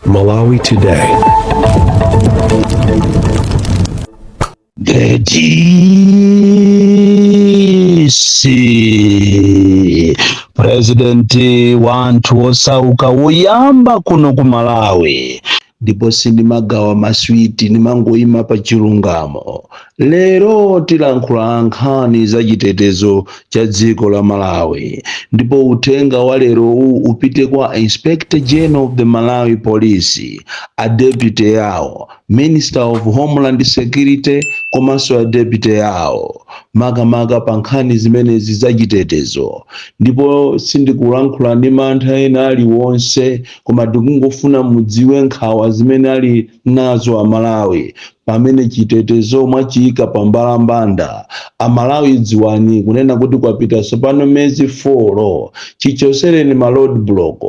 Malawi Today. The DC President wanthu osauka woyamba kuno ku Malawi ndipo sindimagawa maswiti nimangoyima pa chilungamo Lero tilankhula nkhani za chitetezo cha dziko la Malawi ndipo uthenga wa lero uwu upite kwa Inspector General of the Malawi Police, a deputy yawo, Minister of Homeland Security komanso a deputy yawo makamaka pa nkhani zimenezi za chitetezo ndipo sindikulankhula ndi mantha ena aliwonse koma tikungofuna mudziwe nkhawa zimene ali nazo amalawi pamene chitetezo mwachiyika pa mbalambanda amalawi dziwani kunena kuti kwapita tsopano mezi 4 chichosereni ma road block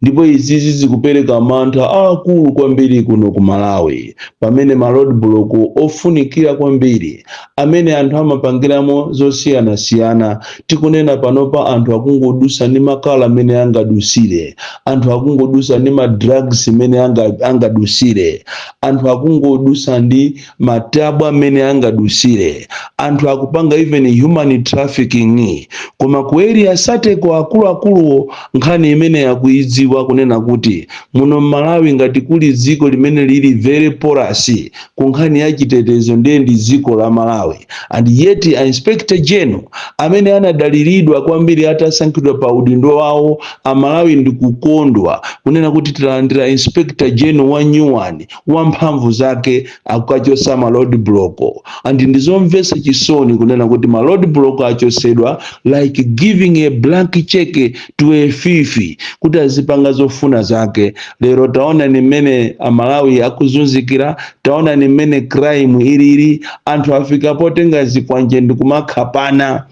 ndipo izizi zikupereka mantha aakulu kwambiri kuno ku malawi pamene ma road block ofunikira kwambiri amene anthu amapangiramo zosiyanasiyana. Tikunena panopa anthu akungodusa ndi makala mmene angadusire, anthu akungodusa ndi ma drugs mmene anga, angadusire, anthu akungodusa ndi matabwa mmene angadusire, anthu akupanga even human trafficking. Koma kuelisateko akuluakuluwo nkhani imene akuidziwa kunena kuti muno m'Malawi ngati kuli dziko limene lili very porous kunkhani ya chitetezo ndiye ndi dziko la Malawi and yet a Inspector General amene anadaliridwa kwambiri atasankhidwa pa udindo wawo a Malawi ndikukondwa kunena kuti talandira Inspector General wa new one wa mphamvu zake akukachosa ma road block and ndizomvesa chisoni kunena kuti ma road block achosedwa like giving a blank check to a thief kuti azipanga zofuna zake lero taonani mmene amalawi akuzunzikira taonani mmene crime ilili anthu afika potenga zikwanje ndikumakhapana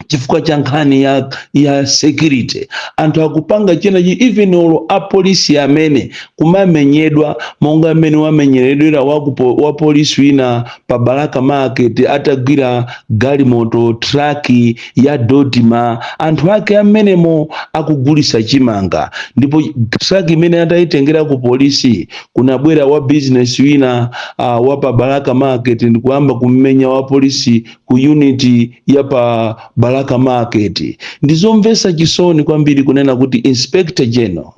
chifukwa cha nkhani ya, ya security anthu akupanga chinachi even olo apolisi amene kumamenyedwa monga mmene wamenyeredwera wakupo- wapolisi wina pa balaka market atagwira galimoto traki ya Dodoma anthu ake amenemo akugulisa chimanga ndipo traki imene atayitengera ku polisi kunabwera wa business wina uh, wa pa balaka market ndikuyamba kummenya wa polisi ku unit ya pa balaka market ndizomvesa chisoni kwambiri kunena kuti inspector general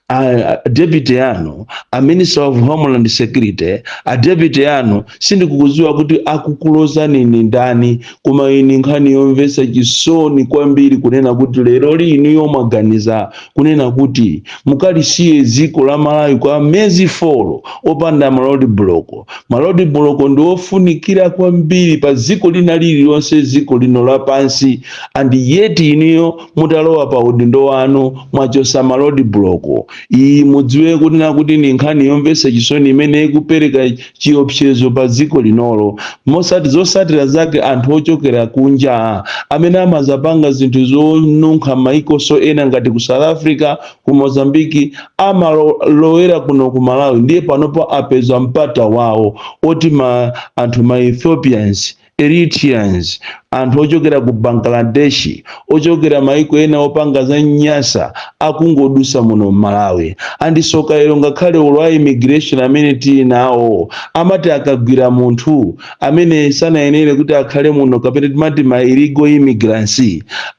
a deputy yanu a minister of homeland security a deputy anu sindikukudziwa kuti akukulozani ni ndani koma ini nkhani yomvetsa chisoni kwambiri kunena kuti lero inuyo mwaganiza kunena kuti mukalisiye dziko la malawi kwa mezi folo opanda ma roadblock ma roadblock ndi ofunikira kwambiri pa dziko lina lililonse dziko lino lapansi and yet inuyo mutalowa pa udindo wanu mwachosa ma roadblock iyi mudziwe kunena kuti ni nkhani yomvetsa chisoni imene ikupereka chiopsezo pa dziko linolo moti zosatira zake anthu ochokera kunja amene amazapanga zinthu zonunkha maiko ena ngati ku south africa ku mozambiki amalowera kuno ku malawi ndiye panopo apeza mpata wawo oti ma anthu ma ethiopians Eritreans, anthu ochokera ku Bangladesh, ochokera maiko ena opanga zonyansa akungodusa muno mMalawi. And tsoka lero ngakhale olo a immigration amene tili nawo amati akagwira munthu amene sanayenere kuti akhale muno kapena timati ma illegal immigrants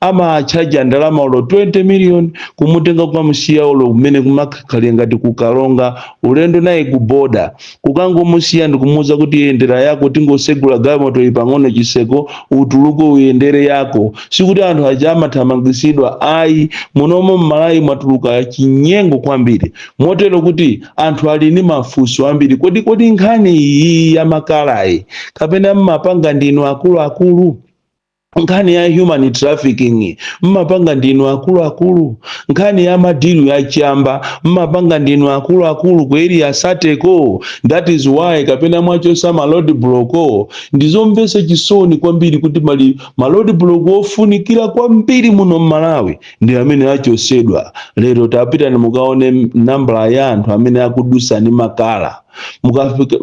amawachaja ndalama olo 20 million kumutenga kukamusiya olo kumene kukakhale ngati ku Karonga ulendo naye ku border kukangomusiya ndikumuuza kuti yendera yako tingosegula galimoto iyi pang'ono chiseko utuluke uyendere yako sikuti anthu aja amathamangisidwa ayi munomo mmalawi mwachuluka chinyengo kwambiri motero kuti anthu ali ndi mafunso ambiri kodi kodi nkhani iyi ya makalayi kapena mmapanga ndinu akuluakulu nkhani ya human trafficking mmapanga ndinu akuluakulu nkhani ya madilu ya chamba mmapanga ndinu akuluakulu ku area 30ko that is why kapena mwachosa ma roadblock ndizomvesa chisoni kwambiri kuti ma- ma roadblock ofunikira kwambiri muno mmalawi ndi amene achosedwa lero tapitani mukaone nambala ya anthu amene akudusa ndi makala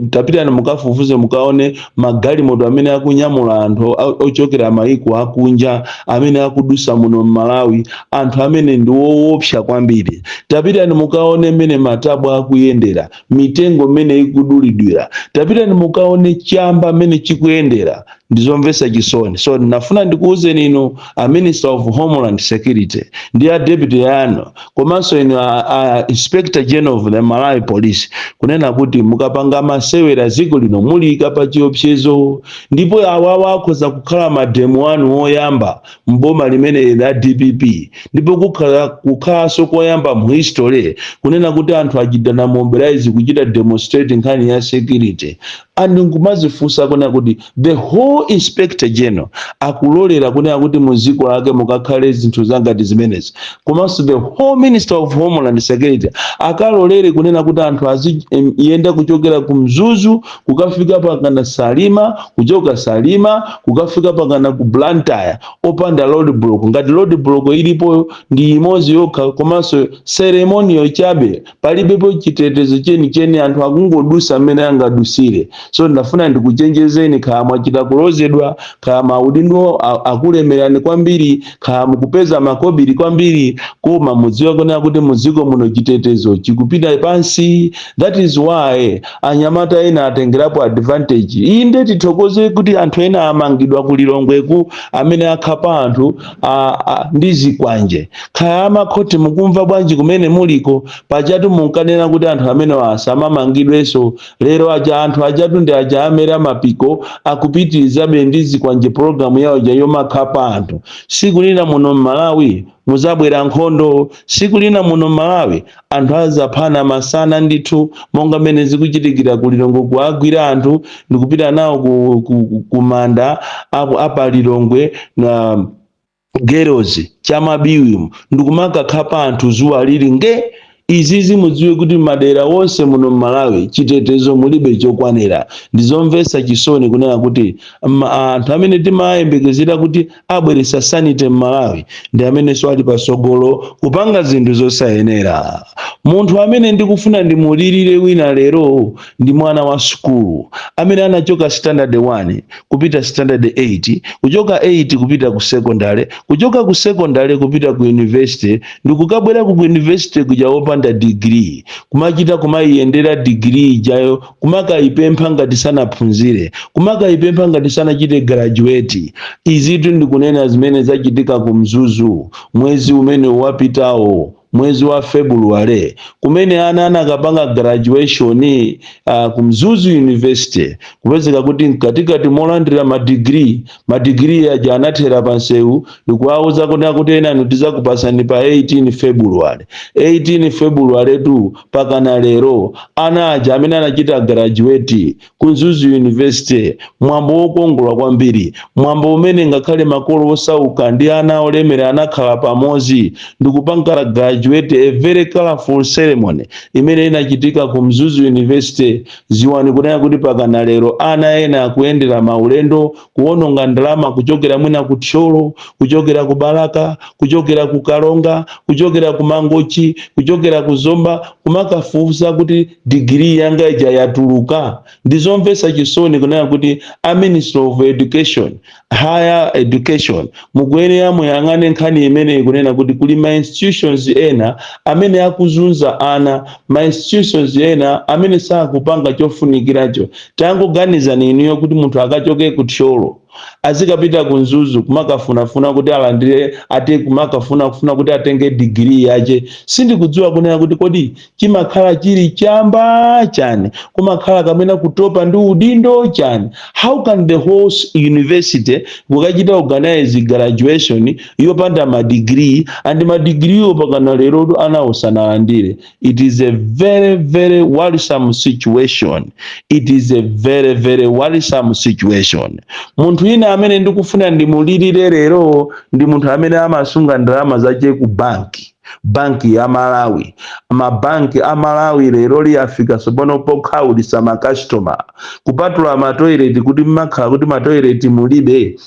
tapitani mukafufuze mukaone magalimoto amene akunyamula anthu a- ochokera mayiko akunja amene akudusa muno mmalawi anthu amene ndi woopsa kwambiri tapitani mukaone mmene matabwa akuyendera mitengo mmene ikudulidwira tapitani mukaone chamba mmene chikuyendera ndizomvesa chisoni so ndinafuna ndikuwuzeni inu a minister of homeland security ndi a deputy yanu komanso inu a, a inspector general of the malawi police kunena kuti mukapanga masewera dziko lino muliyika pa chiopsezo ndipo awawa akhoza kukhala mademo anu oyamba mboma limeneli la dpp ndipo kukhala kukhalanso koyamba mu history kunena kuti anthu achitana mobilize kuchita demonstrate nkhani ya security and nkumazifunsa kunena kuti the whole inspector general akulolera kunena kuti mu dziko lake mukakhale zinthu zangati zimenezi komanso the whole minister of homeland security akalolere kunena kuti anthu aziyenda kuchokera ku mzuzu kukafika pakana salima kuchoka salima kukafika pakana ku blantyre opanda road block ngati road block ilipoyo ndi imodzi yokha komanso ceremonial chabe palibepo chitetezo chenicheni anthu akungodusa mmene angadusire so ndafuna ndikuchenjezeni kaya mwachita kulozedwa kaya maudindo a- akulemerani kwambiri kaya mukupeza makobiri kwambiri koma mudziwe kunena kuti mudziko muno chitetezo chikupita pansi that is why anyamata ena atengerapo advantage iyi ndiye tithokoze kuti anthu ena amangidwa ku lilongweku amene akhapa anthu a, a, ndi zikwanje kaya amakhoti mukumva bwanji kumene muliko pajatu munkanena kuti anthu amenewa asamamangidwenso lero aja anthu ajatu ndi aja amera mapiko akupitirizabe ndi zikwanje pologalamu yawo ija yomakhapa anthu siku lina muno m'malawi muzabwera nkhondo siku lina muno m'malawi anthu azaphana masana ndithu monga mmene zikuchitikira ku lilongwe kuagwira anthu ndikupita nawo ku, ku, ku, ku manda apo apa lilongwe na girls chamabiwi ndikumakakhapa anthu zuwa lili nge izizi mudziwe kuti madera onse muno mmalawi chitetezo mulibe chokwanira ndizomvetsa chisoni kunena kuti ma- anthu amene timayembekezera kuti abweresa sanity mmalawi ndi amenenso ali pasogolo kupanga zinthu zosayenera munthu amene ndikufuna ndimulirire wina lero ndi mwana wa sukulu amene anachoka standard 1 kupita standard 8 kuchoka 8 kupita ku secondary kuchoka ku secondary kupita ku university ndikukabwera ku university kuja opanda degree kumachita kumayiyendera degree ijayo kumakayipempha ngati sanaphunzire kumakayipempha ngati sanachite graduate izitu ndikunena zimene zachitika ku mzuzu mwezi umene wapitawo mwezi wa february kumene ana anakapanga graduation uh, ku mzuzu university kupezeka kuti mkatikati molandira madigiri madigiri aja anathera pa nsewu ndikuwauza kunena kuti enanu tizakupasani pa 18 february 18 february tu pakana lero ana aja amene anachita graduate ku mzuzu university mwambo wokongola kwambiri mwambo umene ngakhale makolo osauka ndi ana olemera anakhala pamodzi ndikupanga graduate a very colorful ceremony imene inachitika ku mzuzu university Dziwani kunena kuti pakana lero ana ena akuyendera maulendo kuwononga ndalama kuchokera mwina ku Thyolo, kuchokera ku Balaka, kuchokera ku Karonga, kuchokera ku Mangochi, kuchokera ku Zomba kumakafufuza kuti degree yanga ija yatuluka. Ndizomvetsa chisoni kunena kuti a Ministry of Education higher education mukuyenera muyang'ane nkhani imeneyi kunena kuti kuli ma institutions ena amene akuzunza ana ma institutions ena amene sakupanga chofunikiracho tangoganizani inuyo kuti munthu akachoke ku thyolo azikapita ku mzuzu kumakafunafuna kuti alandire kumakafunafuna kuti atenge digiri yache sindikudziwa kunena kuti kodi chimakhala chili chamba chani kumakhala kamena kutopa ndi udindo chani how can the whole s- university kukachita organize graduation yopanda madigiri and madigiriwo pakana lero anawo sanalandire it is a very very worrisome situation it is a very very worrisome situation munthu ina amene ndikufuna ndimulirire lero ndi munthu amene amasunga ndalama zache ku banki banki ya malawi mabanki a malawi leroli yafika tsopano pokhaulitsa makastoma kupatula matoileti kuti mmakhala kuti matoileti mulibe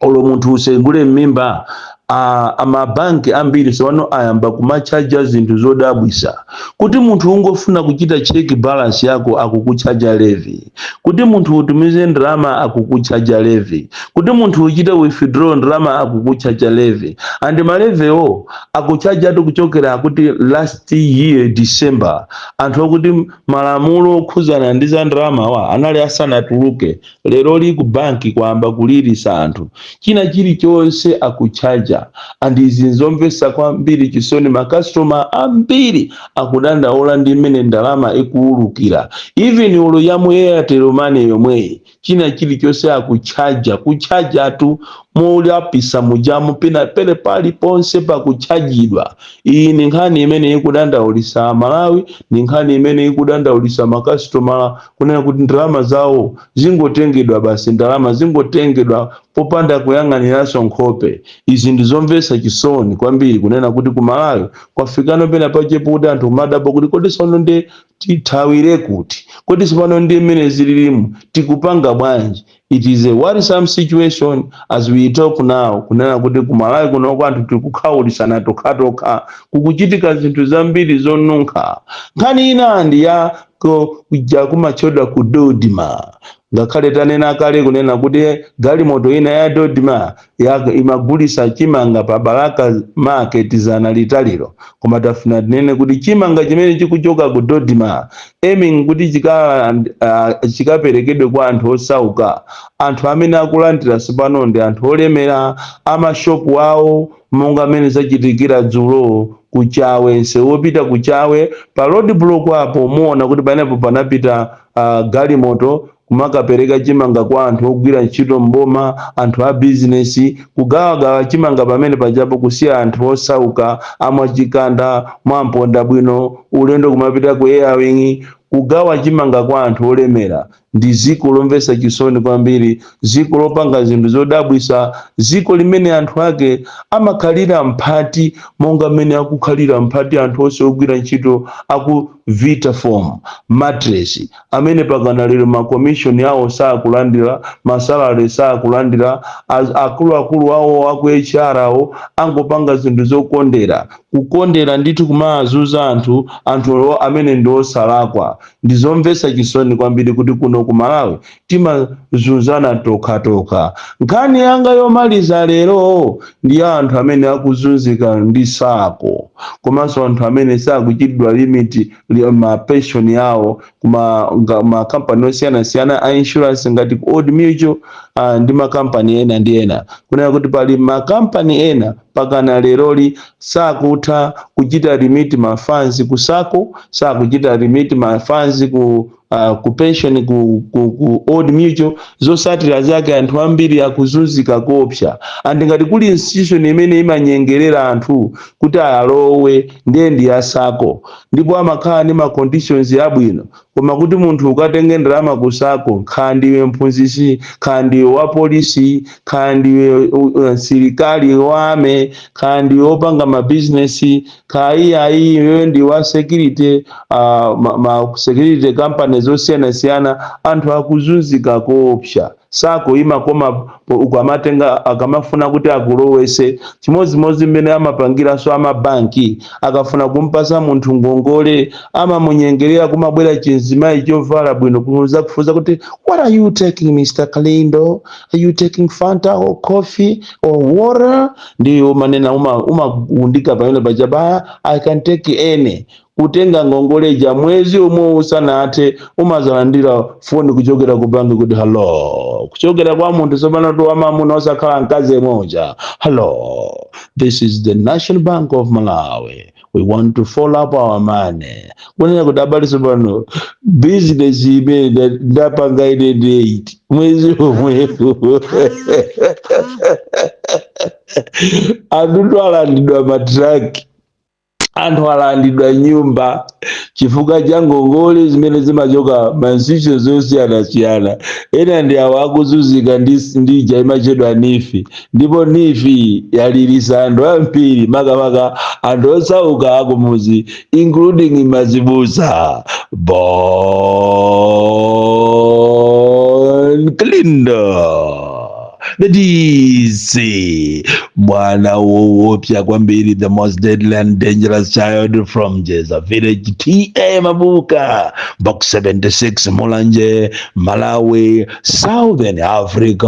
olo munthu usegule m'mimba a- a mabanki ambiri tsopano ayamba kumatchaja zinthu zodabwisa kuti munthu ungofuna kuchita check balance yako akukutchaja levy kuti munthu utumize ndalama akukutchaja levy kuti munthu uchite withdraw ndalama akukutchaja levy and malevewo akutchajatu kuchokera kuti last year december anthu akuti malamulo okhuzana ndi za ndalamawa anali asanatuluke leroli ku banki kwayamba kulirisa anthu china chilichonse akutchaja and izi nzomvesa kwambiri chisoni makastoma ambiri akudandaula ndi mmene ndalama ikuwulukira even olo ya mu airtel money yomweyi china chilichonse akutchaja kutchajatu molapisa mujamu pina pele pali ponse pakutchajidwa iyi ni nkhani imene ikudandaulisa amalawi ni nkhani imene ikudandaulisa makasitoma kunena kuti ndalama zawo zingotengedwa basi ndalama zingotengedwa popanda kuyang'aniranso nkhope izi ndizomvetsa chisoni kwambiri kunena kuti ku malawi kwafikano pena pache pokuti anthu kumadabwa kuti kodi sono ndi tithawire kuti kodi sopano ndi mmene zililimu tikupanga bwanji it is a worrisome situation as we talk now kunena kuti kumalawi kunoko anthu tikukhawulisana tokhatokha kukuchitika zinthu zambiri zonunkha nkhani ina ndi ya kuja kumatchedwa ku dodma Ngakhale tanena kale kunena kuti galimoto ina ya Dodma imagulisa chimanga pa Balaka market zana litaliro koma tifuna tinene kuti chimanga chimene chikuchoka ku Dodma aiming kuti chikaland uh, chikaperekedwe kwa anthu osauka anthu amene akulandira sopano ndi anthu olemera amashopu awo monga amene zachitikira dzulo kuchawe nsewu wopita kuchawe pa road block apo muona kuti panepo panapita a galimoto, kumakapereka chimanga kwa anthu ogwira ntchito m'boma, anthu a bizinesi, kugawagawa chimanga pamene pajapo kusiya anthu osauka a mwa Chikanda, mwa Mpondabwino, ulendo kumapita ku Airwing, kugawa chimanga kwa anthu olemera. Ndi dziko lomvetsa chisoni kwambiri. dziko lopanga zinthu zodabwitsa, dziko limene anthu ake amakhalira mphati monga mmene akukhalira mphati anthu onse ogwira ntchito a ku Vitafoam Mattress amene pakana lero ma commission awo sakulandira, ma salary sakulandira, a akuluakulu awo a ku HR akungopanga zinthu zokondera, kukondera ndithu kumawazuza anthu, anthu amene ndi osalakwa. Ndi zomvetsa chisoni kwambiri kuti kuno ku Malawi timazunzana tokhatokha nkhani yanga yomaliza lero ndi ya anthu amene akuzunzika ndi SACCO komanso anthu amene sakuchitidwa remit re- ma pension yawo kuma nga- ma company osiyanasiyana a insurance ngati ku old mutual ah, ndi makampani ena ndi ena kunena kuti pali makampani ena pakana leroli sakutha kuchita remit ma funds ku SACCO sakuchita remit ma funds ku uh, ku pension ku, ku, ku old mutual zosatira zake anthu ambiri akuzunzika koopsa and ngati kuli institution imene imanyengerera anthu kuti alowe ndiye ndi ya SACCO ndipo amakhala ndi ma conditions abwino koma kuti munthu ukatenge ndalama ku SACCO khala ndiwe mphunzisi khala ndiwe wa polisi khala ndiwe uh, msilikali wa army khala ndiwe opanga mabizinesi Kaya iweyo ndi wa security uh, ma, ma security company zosiyanasiyana anthu akuzunzika koopsa SACCO imakoma po- ukamatenga akamafuna kuti akulowese chimodzimodzi mmene amapangiranso amabanki akafuna kumpasa munthu ngongole amamunyengerera kumabwera chinzimayi chovala bwino kuzakufunsa kuti what are you taking mr kalindo are you taking fanta or coffee or water ndiye umanena uma- umagundika pamene pajapa i can take any kutenga ngongole ija mwezi umwewo usanathe umazalandira foni kuchokera ku banki kuti hello kuchokera kwa munthu tsopano tu wamamuna osakhala mkazi yemwe uja hello this is the national bank of malawi we want to follow up our money kunena kuti abale sopano business imene nda- ndapanga ine date mwezi omwepo anthu alandidwa matraki anthu alandidwa nyumba chifukwa cha ngongole zimene zimachoka mainstitution zosiyanasiyana ena ndi awo akuzunzika ndi ndi ija imatchedwa NEEF ndipo NEEF yalilitsa anthu ambiri makamaka anthu osauka akumuzi including mazibusa bon kalindo the dc mwana woopsa kwambiri the most deadly and dangerous child from jeza village ta mabuka box 76 mulanje malawi Southern Africa.